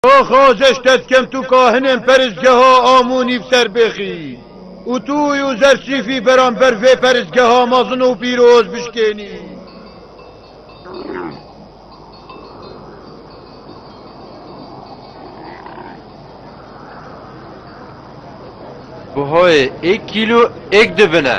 Axa Jeş Tetkemtu Kahinên Peristgeha Amu Nîv Serbêxî û Tu û Zer Sîfî beramber vê peristgeha mezin û pîroz bişkênî. Buhayê êk kîlo êk dibin e.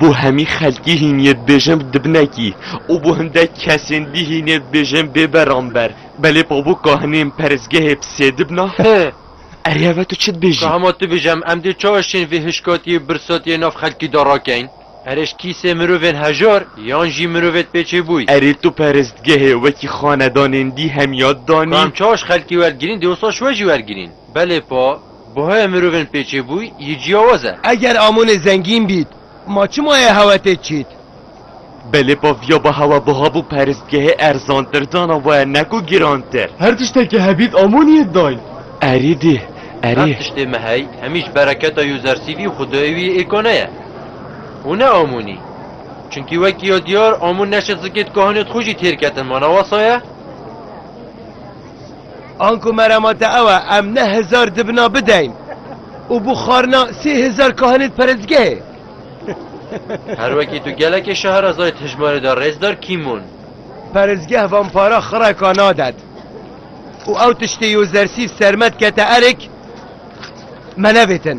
Bo hemî xelkî hîniyê dibêjin dibnekî û bo hindek kesên dî hîniyê dibêjin bêberanber. Belê pa bo kahinên perestgehê bi sê dibina? Hi! Eryeva tu çi dibêjî? Ka hema tu bêj em, em dê çawa şên vê hişkatiyê birsatiyê nav xelkî de rakein? Erê ji kîsê mirovên hejar yan jî mirovê di pêçê bûy? Erê tu perestgehê wekî xanedanên dî hemiya Ka danî? em çawa ji xelkî wergirîn dê wisa ji we jî wergirîn. Belê pa. Buhaya mirovên pêçêbûy yê ciyawaz e. Eger Amonê zengîn bît, ma çima yê hewe tê çît? Belê baviya ba hewe buha bû peristgehê erzantir dana waya ne ku girantir. Her tiştekê hebît Amonî yê dayn. Erî dî, erî. Her tiştê me hey, hemî ji bereketa Yozersîvî û xwedayê wî yê Êkone ye. Û ne Amonî. Çimkî wekî ya diyar Amon neşt zikê dikahanê di xwe jî têr ketin ma ne wasa ye? Anku merama te ew e em ne hezar dibina bideyn û bo xwarina sê hezar kahinê di perestgehê. Her wekî tu gelekê Şeherazayê di hejmarê de rêzdar Kîmon. Perestgeh van para xireka nadet û ew tiştê yozersîv sermet kete erik me nevêtin.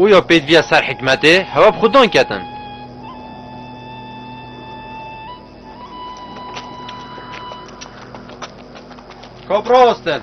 Û ya pêdiviya ser hikmetê hewa bi xwe dan ketin. Kap rawestin.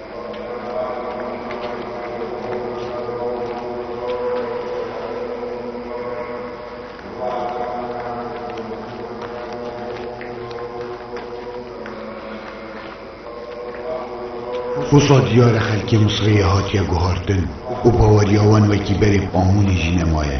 Wisa diyar e xelkê Misirê hatiye guhartin û baweriya wan wekî berê bi qanûnê jî nemaye.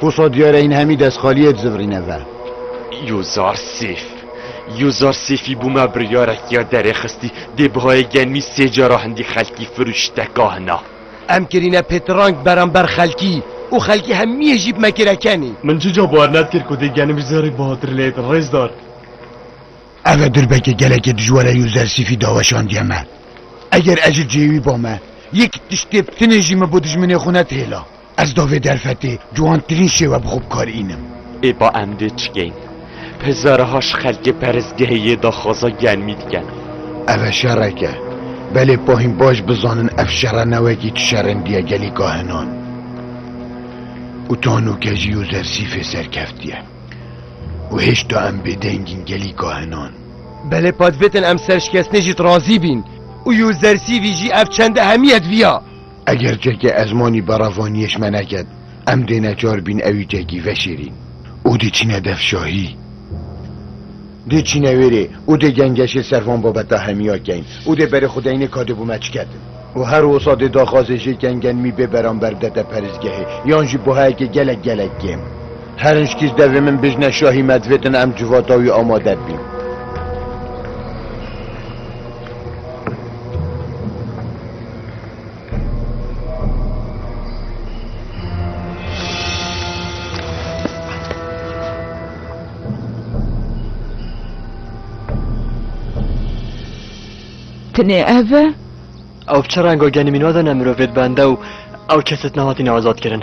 Wisa diyar e hîn hemî destxaliyê dizivirîne ve. Yozar Sêf. Yozar Sêfî bûme biryarek ya derê xistî dê bihayê genmî sê cara hindî xelkî firûşteka hina. Em kirîne pêtirang beramber xelkî û xelkî hemiyê jî bime kirekenî. Min çi ca bawer nedkir ku dê genimî zerrî bahatir lê rêzdar. Eve dirbeke gelekê dijware yo zersîfî da weşandiye me. Eger ez ji cihê wî ba me, yek tişt tê bitinê jî min bo dijminê xwe net hêla. Ez da vê derfetê ciwantirîn şêwe bi xwe bikarînim. Ê ba em dê çikeyn? Hezarha ji xelkê perestgehê yê daxwaza germî dikin. Eve şerek e. Belê pa hîn baş bizanin ev şere ne wekî tu şerendiye gelî kahinan û tanûkejî yo zersîfê serkeftiye. Û hêşta em bêdengîn gelî kahinan. Belê pa divêtin em serşikestinê jî razî bîn. Û yû zersî vî jî ev çend ehemiyet viya. Eger çekê ezmanî beravaniyêş me neket, em dê neçar bîn ewî çekî veşêrîn. Û dê çîne dev şahî. Dê çîne wêrê û dê gengeşê ser van babeta hemiya keyn. Û dê berê xwedeyinê ka dê bû me çiketin. Û her wisa dê daxwazê jê kengenmî bê beramber bidete perisgehê, yan jî buhayekê gelek gelek kêm. Herînc kîj devê min bijne şahî me divêtin em civata wî amade bîn. Tinê ev e? Ew bi çi renga genî mîna de ne mirovêd bende û ew keset nehatîne azadkirin.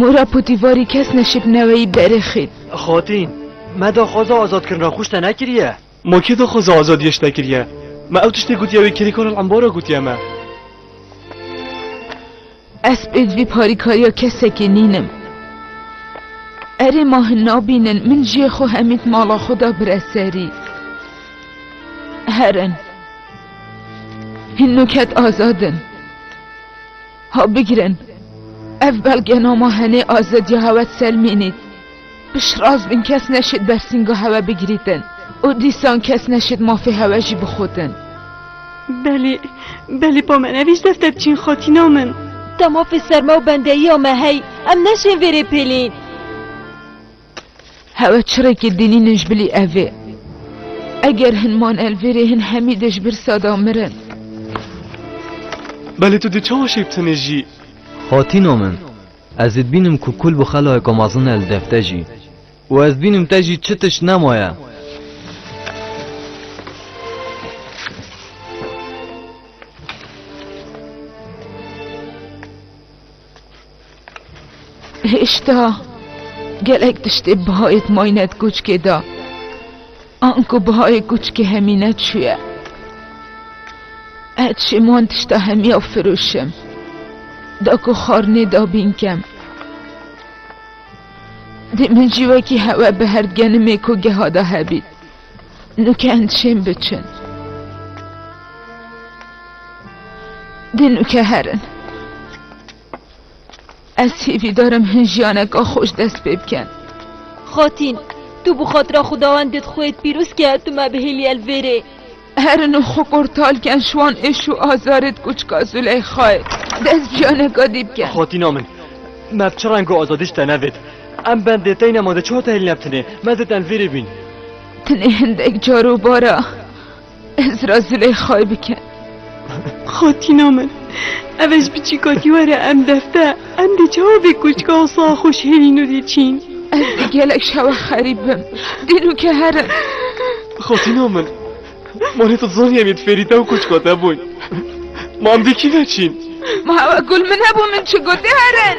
Mora putîvarî kes neşib neweyî derê xît. Xatîn, me daxwaza azadkirina xwe ji te nekiriye. Ma kê daxwaza azadiyê ji te kiriye? Me ew tiştê gotiye wê kêrî Karl Embara gotiye me. Ez pêç vî parîkariya kesekê nîn im. Erê ma hin nabînin min ciyê xwe hemît mala xwe da bire serî. Herin. Hin nûket azad in. Ha bigirin. Ev belgenama henê azadiya hewet selmînît. Piştrast bin kes neşêt bersînga hewe bigirîtin û dîsan kes neşêt mafê hewe jî bixotin. Belê, belê pa me nevîst defter biçîn xatîna min. Te mafê serme û bendeyiya me hey, em neşên vê rê pêlîn. Hewe çirêkê dînînin ji bilî evê. Eger hin man el vê rê hin hemî dê ji birsa da mirin. Belê tu dê çawa şêbtinê jî? Xatîna min. Ez ê dibînim ku kul bi xelayeka mezin e li dev te jî û ez dibînim te jî çi tişt nemaye. Hêşta gelek tiştê bi hayê di mayîne di koçkê de. Anko bihayê kuçikê Hemîne çûye. Ez çêm wan tişta Hemîya firûşim. Da ku xarnê da bînkem. Dê min jî wekî hewe bi herd genimê ku geha da hebît. Nûke endişên biçin. Dê nûke herin. Ez hîvîdar im hin jiyaneka xweş dest pê bikin. Xatîn, tu bi xatira xwedawendê dixweyt pîroz ke tu me bihêliyê li vêrê. Herin û xwe kurtal ken ji wan êş û azarê dikuçika Zûleyxayê dest bi jiyaneka dî bikin. Xatîna min, me bi çi rengo azadî ji te nevêt. Em bendê teyna ma de çi hate hêlîne bi tinê, me zêde li vêrê bîn. Tinê hindek car û bara. Ez ra Züleyxayê bikend. Xatîna min, ev ez bi çî katî were em defte, em dê çawa vê kûçka û sax xwe ji hêlî nû dê çîn. Ez dê gelek şewe xerîb bim. Dînûke herin. Xatîna min, ma lê tu dizanî em yê di fêrî te û kûçka te bûn. Ma em dê kî veçîn? Ma ew gul min hebû min çi gotê herin.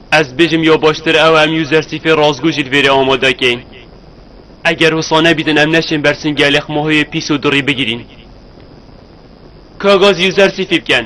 Ez dibêjim ya baştir ew e em user sîfê rastgo jî li vêrê amade kein. Eger wisa nebîtin em neçên ber singê lê xmahoyê pîs û dirî bigirîn. Ka gaz user sîfî biken.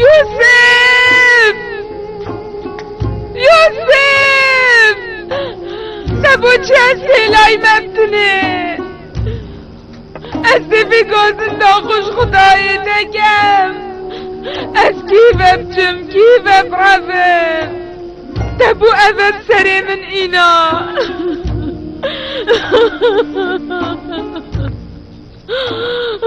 Yûsif! Yûsif! Te bo çi ez pêlayî me bitinê? Ez dê vê gozin daxuş xudayê te kem. Ez kî ve biçim, kî ve birevim? Te bû ev ev serê min îna.